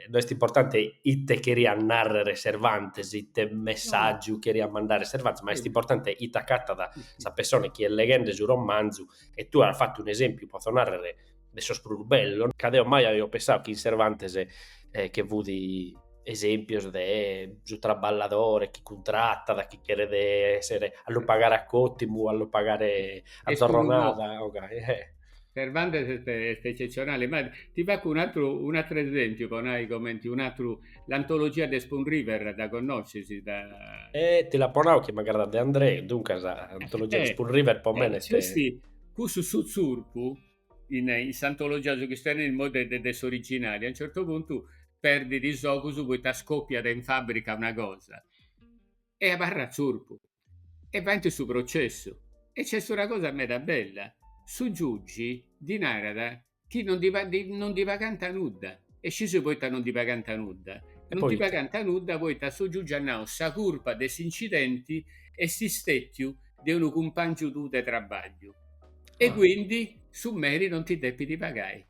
no est importante ite cheriat narrer Cervantes, ite messàgiu cheriat mandare Cervantes, ma est importante ite acatat sa pessona chi est leghende su romanzu e tue as fatu un'esempiu, potzo narrer de sos prus bellos, ca deo mai aio pensau chi in Cervantes eh, che fut esempios de su traballadore chi cuntratat, chi cheret essere, a lu pagare a cotimu, a lu pagare a zorronada. Okay. Eh. Cervantes est, est eccezionale, ma ti faccio un altro, un altro esempio, po nai comenti un altro, l'antologia de Spoon River, dda conoscis? Da... Eh, ti l'apo nau chi m'agradat De André, duncas, l'antologia eh, de Spoon River, po eh, mene... Est... Cussu su zurpu in in s'antologia su chi est tenni mode de de s'originali a un certu puntu perdit is ogus poita scopiat in fabrica una cosa e abarrat zurpu e faint su processu e nc'est una cosa meda bella su giugi ddi narat chi non ddi ddi non ddi pagant nudda e scis poita non ddi pagant nudda non ddi pagant nudda poita su giugi at nau sa curpa de s'incidenti est stetiu de unu cumpangiu tuu de trabagliu e ah. quindi su meri non ti depit pagai.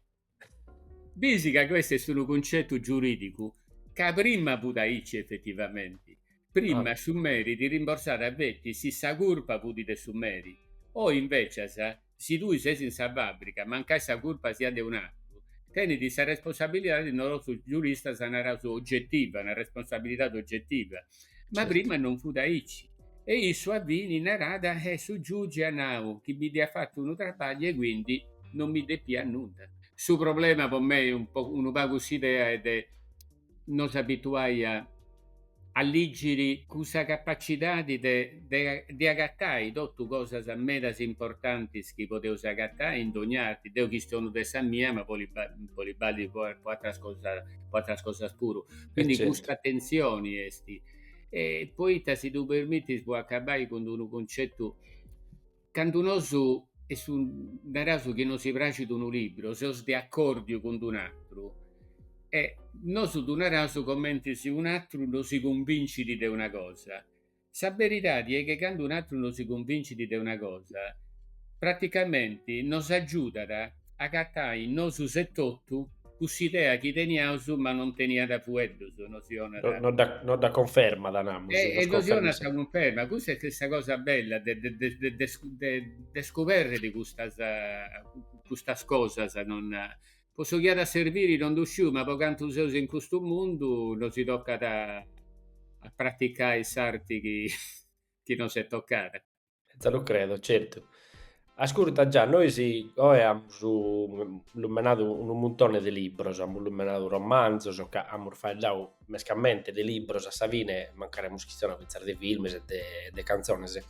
Bis ca questo est unu concetu giuridicu ca prima fut aici effettivamenti. Prima ah. su meri ti rimborsàt feti si sa curpa fut de su meri. Oi invecias, si tui ses in sa fàbrica, mancai sa curpa siat de un'atru, tenit sa responsabilidadi, nosu giuristas naraus ogetiva, una responsabilidadi ogetiva, ma certo. prima non fut aici, e issu a fini narat e su giugi at nau chi mi dd'iat fatu unu trabagliu e quindi non mi depiat nudda. Su problema po mei un po unu pagu s'idea est de nos abituai a a liggiri cun sa capacidadi de de de agatai totu cosas medas importantis chi podeus agatai in dogna arti, deu chistionu de sa mia ma boli boli ballit po po atras cosas po atras cosas puru. Quindi certo. custa attenzioni esti. E poita si ddu permittis po acabai cun unu concetu, candu nosu est un, naraus chi nosi praxit unu libru, seus de accordiu cun unu atru, e nosu ddu naraus comenti si un'atru nosi cunvincit de una cosa Sa beridadi est che candu un'atru nosi cunvincit de una cosa, praticamenti nos agiudat a agatai in nosus etotu cuss'idea chi teniaus ma non teniat fueddus, nosi donat. Nos dda cunfermat, namus. E e nosi donat sa cunferma. Custa est sa cosa bella de de de de scuberri custas custas cosas, non. Po su chi at a serbiri non ddu sciu, ma po cantu seus in custu mundu nosi tocat a praticai s'arti chi nos est tocada. Sa lu credo, certu. Ascurta Già, nois oe amus lumenadu unu muntone de libros, amus lumenadu romanzos, ca amus faeddau mescamente de libros, a sa fine mancari amus chistionau fintzas de films e de cantzones,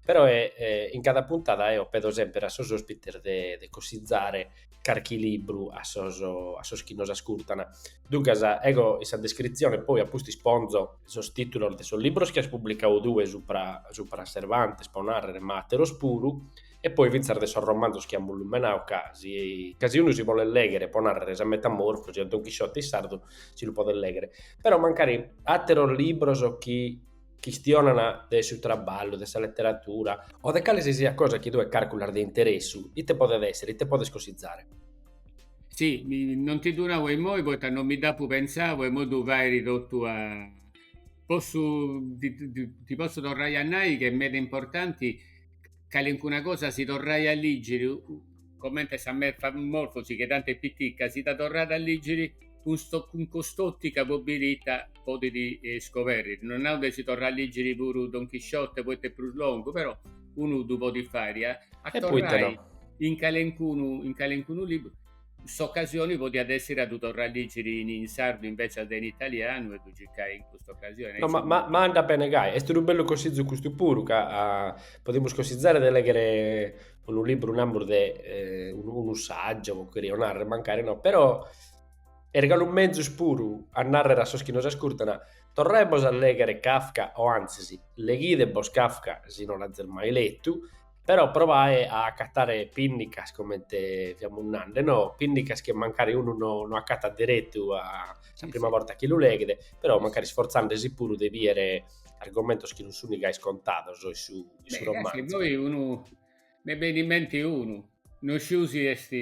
però in cada puntada eo pedo semper a sos ospites de cossizare carchi libru a sos, a sos chi nos ascurtan. Duncas, ego in sa descritzione, poi a pustis ponzo sos tìtulos de sos libros chi as publicadu tue supra, supra a Cervantes, pro nàrrere, ma àteros puru, e poi fintzas de sos romanzos chi amus lumenadu, ca si, ca si unu si bolet lèghere, pro nàrrere, sa Metamorfosi o Don Chisciote in sardu si lu podet lèghere, però mancari àteros libros chi chistionan de su traballu, de sa leteratura, o de cale si siat cosa chi tue carculas de interessu, ite podet èssere, ite podes cosizare? Si, non ti ddu nau imoi poita non mi dd'apu pentzau e imoi ddu fairi totu a. Possu, ti possu torrai a nai chi est meda importanti calincuna cosa si torrai a lìgiri, comente sa metamorfosi che tanti est pitica, si dda torrat a lìgiri cun cun cust'òtica po biri ita podit scoberri. No nau de si torrai a lìgiri puru Don Chisciote poita est prus longu, però unu ddu podit fai a torrai in calencunu in calencunu liburu S'ocasioni podiat essiri a ddu torrai a ligiri in sardu invecias de in italianu e ddu circai in custa ocasioni. No, ma, ma andat bene gai. Est unu bellu cosizu custu puru, ca podemus cosizare de lèghere unu liburu, namus, de unu sagiu, poi cherjo narrer, mancari no, però est galu mezus puru a narrer a sos chi nos ascurtan, torraebos a lèghere Kafka o antzis leghidebos Kafka si no l'azis mai letu però provae a acatare pìnnicas, comente fiamus nande, no, pìnnicas chi mancari unu no no acatat deretu a sa prima borta chi lu leghet, però mancari sforzandesi puru de bider argomentos chi non sunt gai scontados in su in su romanzu. Beh, poi unu mi benit in mente unu, no sciu si est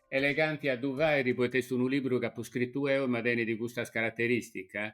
eleganti a ddu fàiri poita est unu libru chi apu scritu eo e ma tenit custas carateristicas,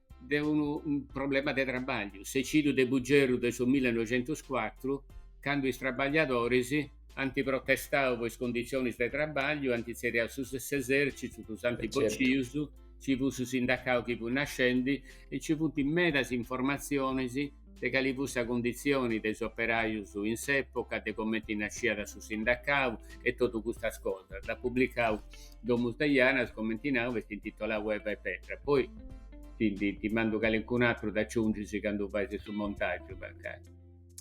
de unu problema de trabagliu, s'ecìdiu de Bugerru de su millenoixentoscuatru, candu is trabagliadoris ant protestau po is conditzionis de trabagliu, ant tzerriau su s'esèrcitu, ddus ant bocius, nci fut su sindacau chi fut nascendi e nci funt medas informatzionis de cali fut sa cunditzioni de is operajus in s'època, de comenti nasciat su sindacau e totu custas cosas. Dd'at publicau Domus de Janas, comenti nau, est intitolau Eva e Petra. Poi ti ndi ti mandu calincunu atru dd'aciungis candu fais su montàgiu, mancai.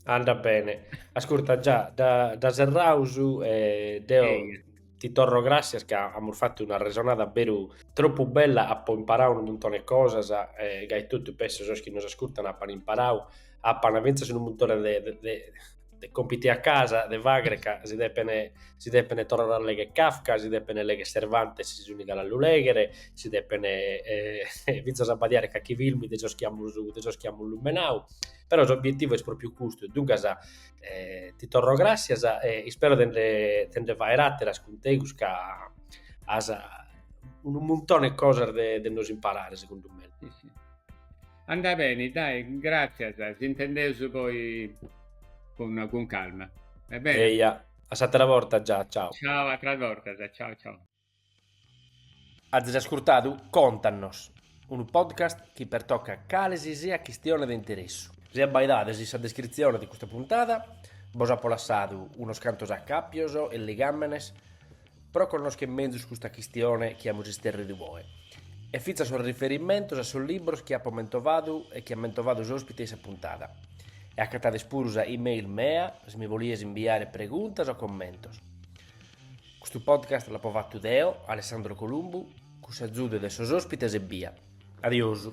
Andat beni. Ascurta Già, dda serraus e deu Ti torro gràssias ca amus fatu una resonada beru tropu bella, apo imparau unu muntone 'e cosas e gai totu penso sos chi nos ascurtan apan imparau, apan fintzas unu muntone de de de compiti a casa de faghere ca si depen si depen torrare a legher Kafka, si depen legher Cervantes si sun galu a lu leghere, si depen fintzas abbadiare carchi filmu de sos chi amus de sos chi amus lumenau, però s'obietivu est pròpriu custu, duncas Eh, ti torro gràssias e ispero de nde faer àteras cun tegus ca as unu muntone de cosas de, de nos imparare, segundu mei. Sì, sì. Andat beni, dai, gràssias, si intendeus poi cun, cun calma. Va bene. Eia, a s'atera borta già, ciao. Ciao, àteras bortas, ciao ciao. Azis ascurtadu Contanos, unu podcast chi pertocat cale si siat chistione de interessu. Si abbaidades in sa descritzione de custa puntada bos apo lassadu unos cantos acàpios e ligàmenes pro connoschere menzus custa chistione chi amus isterridu oe e fintzas sos riferimentos a sos libros chi apo mentovadu e chi at mentovadu s'òspite de sa puntada. E agatades puru sa e-mail mea si mi bolides imbiare preguntas o commentos. Custu podcast l'apo fatu deo, Alessandro Columbu, cun s'azudu de sos ospites ebbia. Adiosu.